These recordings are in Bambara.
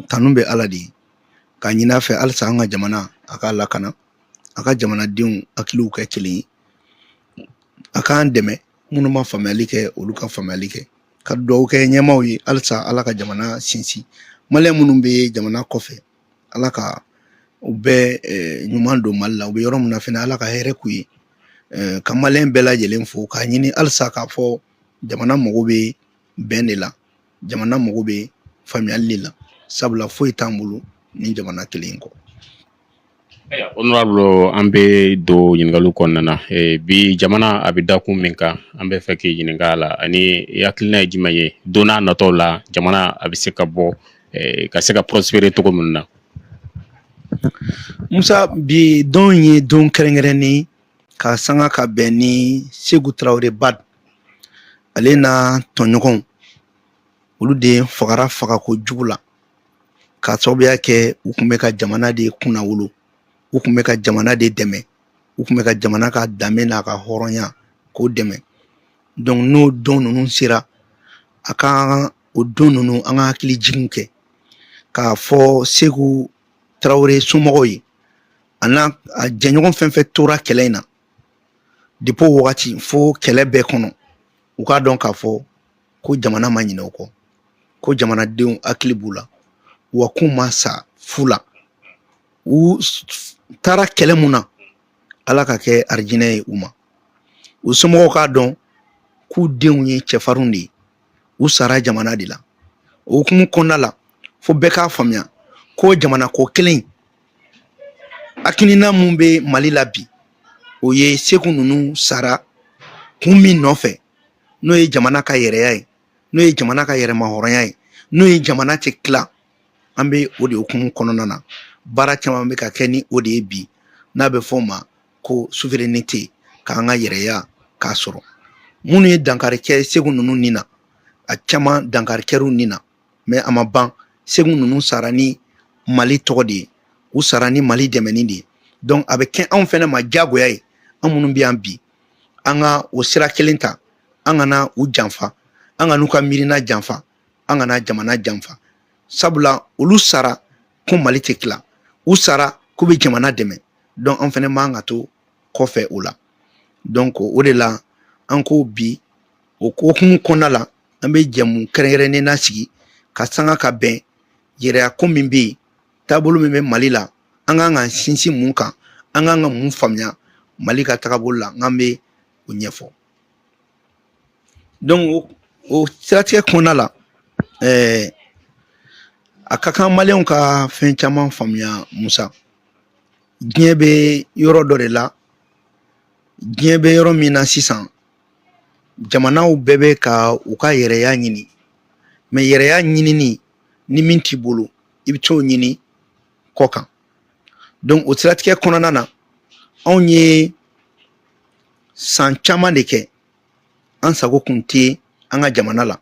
tanu bɛ ala de ye ka ɲin'a fɛ halisa an ka jamana a k'a lakana a ka jamanadenw hakiliw kɛ kelen ye a k'an dɛmɛ minnu ma faamuyali kɛ olu ka faamuyali kɛ ka dugawu kɛ ɲɛmaaw ye halisa ala ka jamana sinsin maliyɛn minnu bɛ jamana kɔfɛ ala ka u bɛɛ ɲuman don mali la u bɛ yɔrɔ min na fɛnɛ ala ka hɛrɛ k'u ye ka maliyɛn bɛɛ lajɛlen fo k'a ɲini halisa k'a fɔ jamana mago bɛ bɛn de la jamana mago bɛ faamuyali de la sabula foyi t'an bolo ni jamana kelen in kɔ ayiwa honorable an bɛ don ɲininkaliw kɔnɔna na bi jamana a bɛ dakun min kan an bɛ fɛ k'i ɲininka a la ani i hakilina ye jumɛn ye don natɔw la jamana a bɛ se ka bɔ ka se ka prospérer cogo min na musa bi don ye don kɛrɛnkɛrɛnnen ka sanga ka bɛn ni segu tarawele bad ale n'a tɔɲɔgɔnw olu de fagara fagako jugu la k'a sababuya kɛ u tun bɛ ka jamana de kunnawolo u tun bɛ ka jamana de dɛmɛ u tun bɛ ka jamana ka danbe n'a ka hɔrɔnya k'o dɛmɛ donc n'o don ninnu sera a ka o don ninnu an ka hakilijiginw kɛ k'a fɔ segu tarawele somɔgɔw ye an'a jɛɲɔgɔn fɛn fɛn tora kɛlɛ in na depuis o wagati fo kɛlɛ bɛɛ kɔnɔ u k'a dɔn k'a fɔ ko jamana ma ɲinɛ u kɔ ko jamanadenw hakili b'u la wa k'u ma sa fu la u taara kɛlɛ mun na ala k'a kɛ arijinɛ ye u ma u somɔgɔw k'a dɔn k'u denw ye cɛfarinw de ye u sara jamana de la o hukumu kɔnɔna la fo bɛɛ k'a faamuya ko jamana ko kelen hakilina mun bɛ mali la bi o ye segu ninnu sara kun min nɔfɛ n'o ye jamana ka yɛrɛya ye n'o ye jamana ka yɛrɛmahɔrɔnya ye n'o ye jamana tɛ tila an bɛ o de hukumu kɔnɔna na baara caman bɛ ka kɛ ni o de ye bi n'a bɛ fɔ o ma ko souveraineté k'an ka yɛrɛya k'a sɔrɔ minnu ye dankari kɛ segu ninnu ni na a caman dankari kɛr'u ni na mais a ma ban segu ninnu sara ni mali tɔgɔ de ye u sara ni mali dɛmɛni de ye donc a bɛ kɛ anw fɛnɛ ma diyagoya ye an minnu bɛ yan bi an ka o sira kelen ta an kana u janfa an kan'u ka miirina janfa an kana jamana janfa sabula olu sara ko mali tɛ tila u sara k'u bɛ jamana dɛmɛ donc an fɛnɛ man ka to kɔfɛ o la donc o de la an ko bi o hukumu kɔnɔna la an bɛ jɛmu kɛrɛnkɛrɛnnen na sigi ka sanga ka bɛn yɛrɛya ko min bɛ yen taabolo min bɛ mali la an kan ka sinsin mun kan an kan ka mun faamuya mali ka tagabolo la n'an bɛ o ɲɛfɔ donc o o siratigɛ kɔnɔna la ɛɛ a ka kan maliyɛnw ka fɛn caman faamuya musa diɲɛ bɛ yɔrɔ dɔ de la diɲɛ bɛ yɔrɔ min na sisan jamanaw bɛɛ bɛ ka u ka yɛrɛya ɲini mais yɛrɛya ɲinini ni min t'i bolo i bɛ t'o ɲini kɔ kan donc o siratigɛ kɔnɔna na anw ye san caman de kɛ an sago kun tɛ an ka jamana la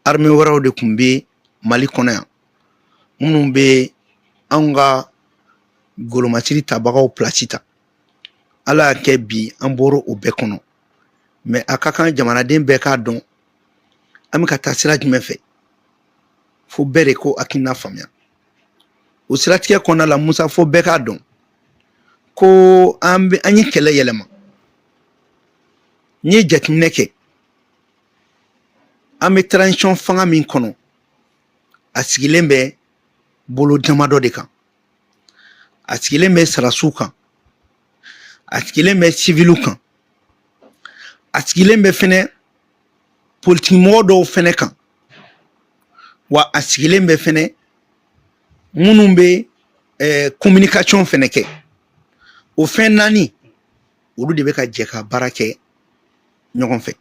arme wɛrɛw de kun bɛ mali kɔnɔ yan minnu bɛ anw ka golomasiri tabagaw pilasi ta ala y'a kɛ bi an bɔra o bɛɛ kɔnɔ mais a ka kan jamanaden bɛɛ k'a dɔn an bɛ ka taa sira jumɛn fɛ fo bɛɛ de k'o hakilina faamuya o siratigɛ kɔnɔna la musa fo bɛɛ k'a dɔn ko an bɛ an ye kɛlɛ yɛlɛma n'i ye jateminɛ kɛ an bɛ transition fanga min kɔnɔ a sigilen bɛ bolo damadɔ de kan a sigilen bɛ sarasiw kan a sigilen bɛ siviliw kan a sigilen bɛ fɛnɛ politikimɔgɔ dɔw fɛnɛ kan wa a sigilen bɛ fɛnɛ minnu bɛ ɛɛ communication fɛnɛ kɛ o fɛn naani olu de bɛ ka jɛ ka baara kɛ ɲɔgɔn fɛ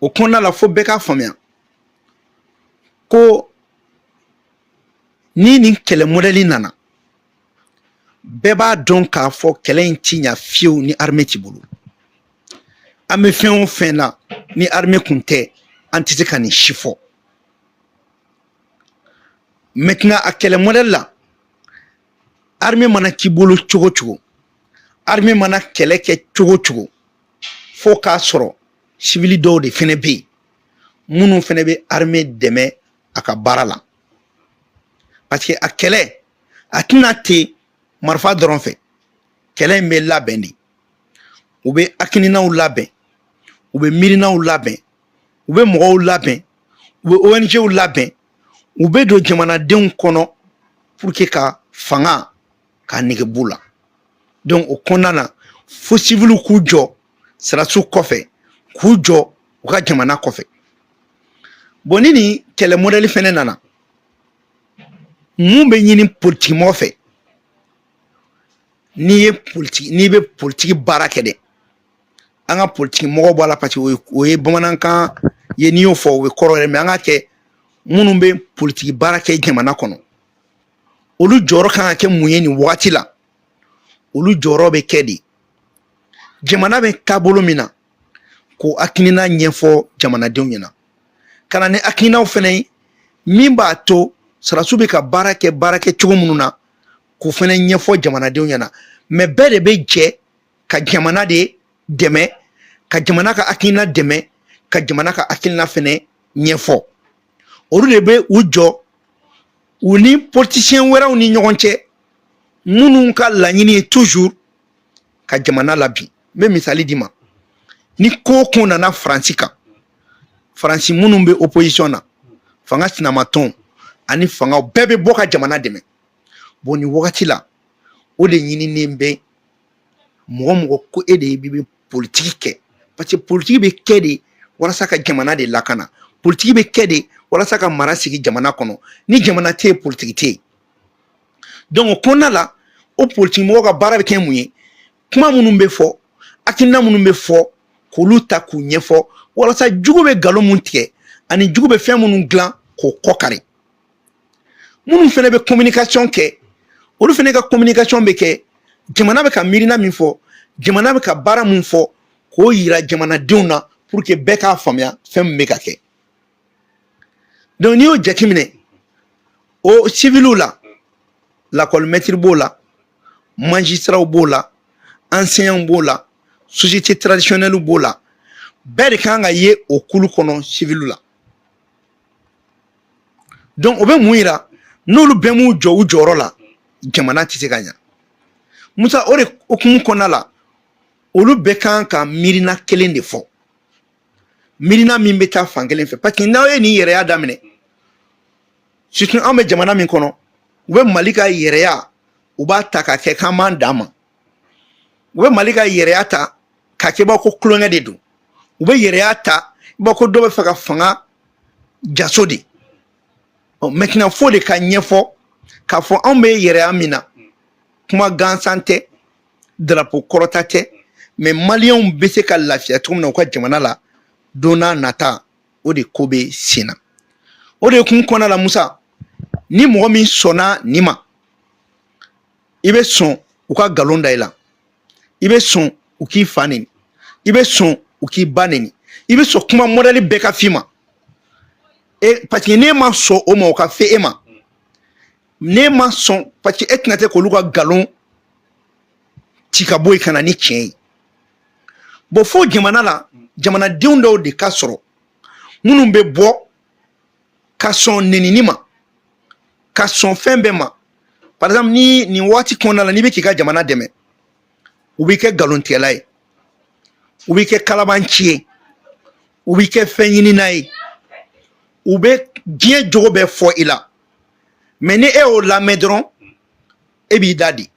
o kɔnɔna la fo bɛɛ k'a faamuya ko ni nin kɛlɛ mɔdɛli nana bɛɛ b'a dɔn k'a fɔ kɛlɛ in ti ɲa fiyewu ni arme t'i bolo an bɛ fɛn o fɛn na ni arme kun tɛ an tɛ se ka nin si fɔ maintenant a kɛlɛ mɔdɛli la arme mana k'i bolo cogo cogo arme mana kɛlɛ kɛ cogo cogo fo k'a sɔrɔ sivili dɔw de fɛnɛ bɛ yen minnu fɛnɛ bɛ arme dɛmɛ a ka baara la parce que a kɛlɛ a tɛ na ten marifa dɔrɔn fɛ kɛlɛ in bɛ labɛn de u bɛ hakilinaw labɛn u bɛ miirinaw labɛn u bɛ mɔgɔw labɛn u bɛ ONGw labɛn u bɛ don jamanadenw kɔnɔ pour que ka fanga k'a nege b'u la donc o kɔnɔna na fo siviliw k'u jɔ sɔrɔdasiw kɔfɛ k'u jɔ u ka jamana kɔfɛ bon ni nin kɛlɛ mɔdɛli fɛnɛ nana mun bɛ ɲini politikimɔgɔ fɛ n'i bɛ politiki baara kɛ dɛ an ka politiki mɔgɔ bɔ a la parce que o ye bamanankan ye n'i y'o fɔ o bɛ kɔrɔ yɛlɛma an ka kɛ minnu bɛ politiki baara kɛ jamana kɔnɔ olu jɔyɔrɔ kan ka kɛ mun ye nin wagati la olu jɔyɔrɔ bɛ kɛ de jamana bɛ taabolo min na k'o hakilina ɲɛfɔ jamanadenw ɲɛna ka na ni hakilinaw fɛnɛ ye min b'a to sɔrɔdasiw bɛ ka baara kɛ baara kɛ cogo minnu na k'o fɛnɛ ɲɛfɔ jamanadenw ɲɛna mais bɛɛ de bɛ jɛ ka jamana de dɛmɛ ka jamana ka hakilina dɛmɛ ka jamana ka hakilina fɛnɛ ɲɛfɔ olu de bɛ u jɔ u ni politisiyɛn wɛrɛw ni ɲɔgɔn cɛ minnu ka laɲini ye toujours ka jamana labin n bɛ misali d'i ma ni ko o ko nana faransi kan faransi minnu bɛ opposition na fanga sinamatɔnw ani fangaw bɛɛ bɛ bɔ ka jamana dɛmɛ bon nin wagati la o de ɲininen bɛ mɔgɔ o mɔgɔ ko e de bɛ politiki kɛ parce que politiki bɛ kɛ de walasa ka jamana de lakana politiki bɛ kɛ de walasa ka mara sigi jamana kɔnɔ ni jamana tɛ yen politiki tɛ yen donc o kɔnɔna la o politiki mɔgɔ ka baara bɛ kɛ mun ye kuma minnu bɛ fɔ hakilina minnu bɛ fɔ k'olu ta k'u ɲɛfɔ walasa jugu bɛ nkalon min tigɛ ani jugu bɛ fɛn minnu dilan k'o kɔ kari minnu fɛnɛ bɛ communication kɛ olu fɛnɛ ka communication bɛ kɛ jamana bɛ ka miirina min fɔ jamana bɛ ka baara min fɔ k'o yira jamanadenw na pour que bɛɛ k'a faamuya fɛn min bɛ ka kɛ donc n'i y'o jateminɛ o civiliw la lakɔli mɛtiri b'o la magistrats b'o la enseignants b'o la société traditionnelle b'o la bɛɛ de kan ka ye o kulu kɔnɔ civiliw la donc o bɛ mun yira n'olu bɛɛ m'u jɔ u jɔyɔrɔ la jamana tɛ se ka ɲa musa o de hukumu kɔnɔna la olu bɛɛ kan ka miirina kelen de fɔ miirina min bɛ taa fan kelen fɛ parce que n'aw ye nin yɛrɛya daminɛ surtout an bɛ jamana min kɔnɔ u bɛ mali ka yɛrɛya u b'a ta ka kɛ k'an b'an dan ma u bɛ mali ka yɛrɛya ta ka kɛ i b'a fɔ ko tulonkɛ de don u bɛ yɛrɛya ta i b'a fɔ ko dɔ bɛ fɛ ka fanga jaso de maintenant fo de ka ɲɛfɔ k'a fɔ anw bɛ yɛrɛya min na kuma gansan tɛ darapo kɔrɔta tɛ mais maliyɛnw bɛ se ka lafiya cogo min na u ka jamana la don n'a nata o de ko bɛ sen na o de hukumu kɔnɔna la musa ni mɔgɔ min sɔnna nin ma i bɛ sɔn u ka nkalon da i la i bɛ sɔn u k'i fa neni i bɛ sɔn u k'i ba neni i bɛ sɔn kuma modèle bɛɛ ka f'i ma e parce que n'e ma sɔn o ma o ka f'e ma n'e ma sɔn parce que e tɛna se k'olu ka nkalon ci ka bɔ yen ka na ni tiɲɛ ye bon fo jamana la jamanadenw dɔw de ka sɔrɔ minnu bɛ bɔ ka sɔn nenini ma ka sɔn fɛn bɛɛ ma par exemple ni nin waati kɔnɔna la n'i bɛ k'i ka jamana dɛmɛ u b'i kɛ nkalontigɛla ye u b'i kɛ kalabanci ye u b'i kɛ fɛn ɲinina ye u bɛ diɲɛ jogo bɛɛ fɔ i la mais ni e y'o lamɛn dɔrɔn e b'i da de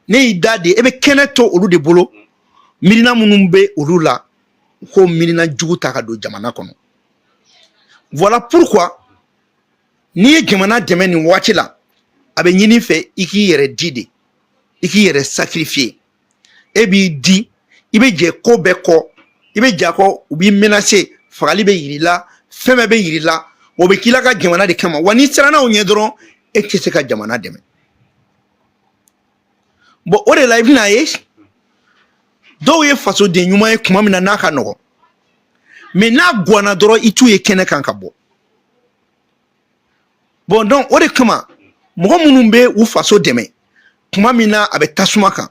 n'e y'i da de e bɛ kɛnɛ to olu de bolo miirina minnu bɛ olu la u k'o miirina jugu ta ka don jamana kɔnɔ voilà pourquoi n'i ye jamana dɛmɛ nin waati la a bɛ ɲin'i fɛ i k'i yɛrɛ di de i k'i yɛrɛ sacrifier e b'i di i bɛ jɛ ko bɛɛ kɔ i bɛ j'a kɔ u b'i menacer fagali bɛ yir'i la fɛn bɛɛ bɛ yir'i la o bɛ k'i la ka jamana de kama wa n'i siranna o ɲɛ dɔrɔn e tɛ se ka jamana dɛmɛ bon o de la i bɛn'a ye dɔw ye fasoden ɲuman ye tuma min na n'a ka nɔgɔn mais n'a gwanna dɔrɔn i t'u ye kɛnɛ kan ka bɔ bon donc o de kama mɔgɔ minnu bɛ u faso dɛmɛ tuma min na a bɛ tasuma kan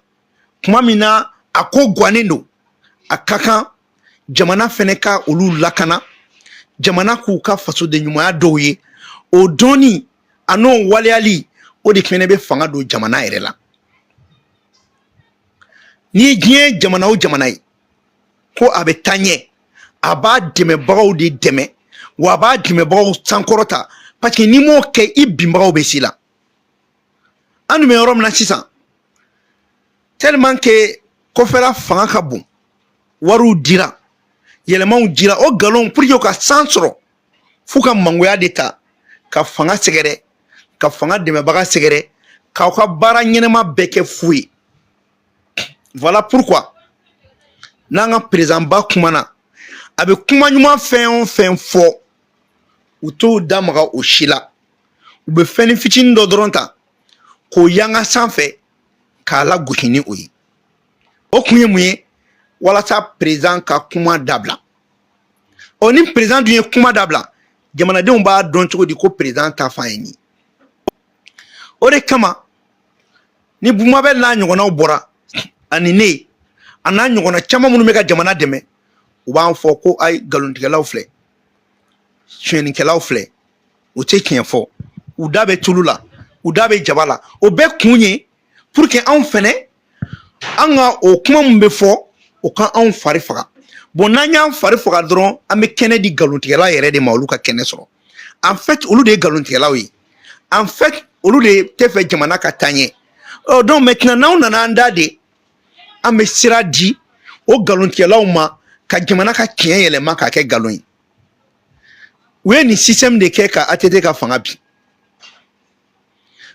tuma min na a ko gannen don a ka kan jamana fɛnɛ ka olu lakana jamana k'u ka fasodenɲumanya dɔn u ye o dɔnni an'o waleyali o de fɛnɛ bɛ fanga don jamana yɛrɛ la n'i ye diɲɛ jamana o jamana ye ko a bɛ taa ɲɛ a b'a dɛmɛbagaw de dɛmɛ wa a b'a dɛmɛbagaw sankɔrɔta parce que n'i m'o kɛ i binbagaw bɛ s'i la an dun bɛ yɔrɔ min na sisan tellement que kɔfɛla fanga ka bon wariw dira yɛlɛmaw dira o nkalonw pour que u ka san sɔrɔ f'u ka mangoya de ta ka fanga sɛgɛrɛ ka fanga dɛmɛbaga sɛgɛrɛ k'aw ka baara ɲɛnama bɛɛ kɛ fu ye voilà pourquoi n'an ka président ba kumana a bɛ kuma ɲuman fɛn o fɛn fɔ u t'o da maga o si la u bɛ fɛnnin fitinin dɔ dɔrɔn ta k'o yanga sanfɛ k'a lagosi ni o ye o kun ye mun ye walasa président ka kuma dabila ɔ ni président dun ye kuma dabila jamanadenw b'a dɔn cogo di ko président ta fan ye nin ye o de kama ni bumabɛl n'a ɲɔgɔnnaw bɔra ani ne a n'a ɲɔgɔnna caman minnu bɛ ka jamana dɛmɛ u b'an fɔ ko ayi nkalontigɛlaw filɛ sonyɛnikɛlaw filɛ u tɛ tiɲɛ fɔ u da bɛ tulu la u da bɛ jaba la o bɛɛ kun ye pour que anw fɛnɛ an ka o kuma min bɛ fɔ o ka anw fari faga bon n'an y'an fari faga dɔrɔn an bɛ kɛnɛ di nkalontigɛla yɛrɛ de ma olu ka kɛnɛ sɔrɔ en fait olu de ye nkalontigɛlaw ye en fait olu de tɛ fɛ jamana ka taa ɲɛ ɔ donc maintenant n'anw nana an da de an bɛ sira di o nkalontigɛlaw ma ka jamana ka tiɲɛ yɛlɛma k'a kɛ nkalon ye u ye nin système de kɛ ka ATT ka fanga bin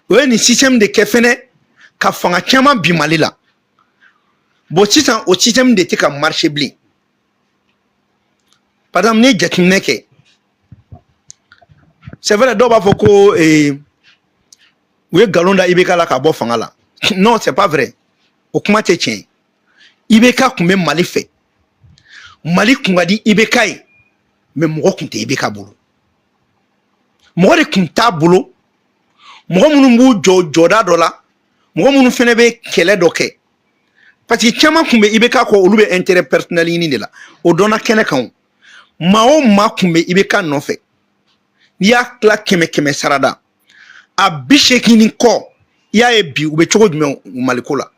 u ye nin système de kɛ fɛnɛ ka fanga caman bi mali la bon sisan o système de tɛ ka marché bilen par exemple n'i ye jateminɛ kɛ c'est vrai dɔw b'a fɔ ko eh, u ye nkalon da IBK la k'a bɔ fanga la non c'est pas vrai o kuma tɛ tiɲɛ ye IBK kun bɛ mali fɛ mali kun ka di IBK ye mais mɔgɔ kun tɛ IBK bolo mɔgɔ de kun t'a bolo mɔgɔ minnu b'u jɔ jɔda dɔ la mɔgɔ minnu fɛnɛ bɛ kɛlɛ dɔ kɛ parce que caman kun bɛ IBK kɔ olu bɛ intérêt personnel ɲini de la o dɔnna kɛnɛ kan o maa o maa kun bɛ IBK nɔfɛ n'i y'a tila kɛmɛ kɛmɛ sarada a bi seegin ni kɔ i y'a ye bi u bɛ cogo jumɛn maliko la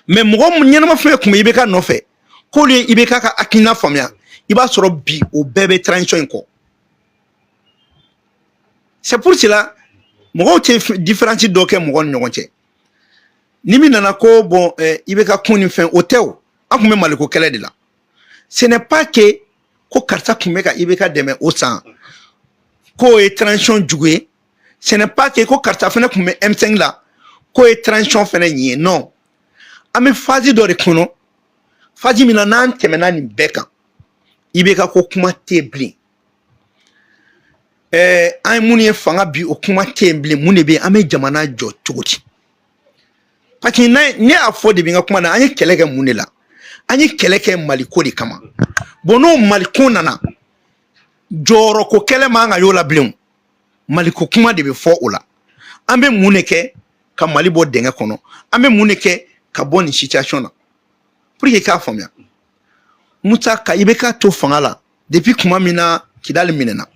mais mɔgɔ ɲɛnama fɛn kun bɛ IBK nɔfɛ k'olu ye IBK ka hakilina faamuya i b'a sɔrɔ bi o bɛɛ bɛ transition in kɔ c'est pour cela mɔgɔw tɛ différence dɔ kɛ mɔgɔw ni ɲɔgɔn cɛ ni min nana ko bon eh, IBK kun ni fɛn o tɛ o an kun bɛ maliko kɛlɛ de la ce n'est pas que ko karisa kun bɛ ka IBK dɛmɛ o san k'o ye transition jugu ye ce n'est pas que ko karisa fɛnɛ kun bɛ M5 la k'o ye transition fɛnɛ ɲin ye non an bɛ phase dɔ de kɔnɔ phase min na n'an tɛmɛna nin bɛɛ kan IBK ko kuma tɛ yen bilen ɛɛ an ye minnu ye fanga bi o kuma tɛ yen bilen mun de bɛ yen an bɛ jamana jɔ cogo di parce que ne y'a fɔ de bi n ka kuma na an ye kɛlɛ kɛ mun de la an ye kɛlɛ kɛ maliko de kama bon n'o maliko nana jɔyɔrɔko kɛlɛ man kan ka y'o la bilen maliko kuma de bɛ fɔ o la an bɛ mun de kɛ ka mali bɔ dɛngɛ kɔnɔ an bɛ mun de kɛ ka bɔ nin situation na pour que i k'a faamuya musa ka IBK to fanga la depuis kuma min na kidali minɛna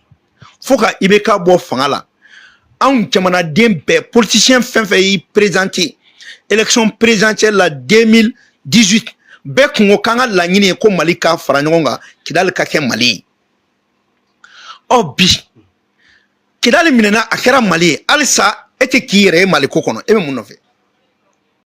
fo ka IBK bɔ fanga la anw jamanaden bɛɛ politicien fɛn fɛn y'i présenté élection présidentielle la 2018 bɛɛ kun ko k'an ka laɲini ye ko mali ka fara ɲɔgɔn kan kidali ka kɛ mali ye ɔ bi kidali minɛna a kɛra mali ye halisa e tɛ k'i yɛrɛ ye mali ko kɔnɔ e bɛ mun nɔfɛ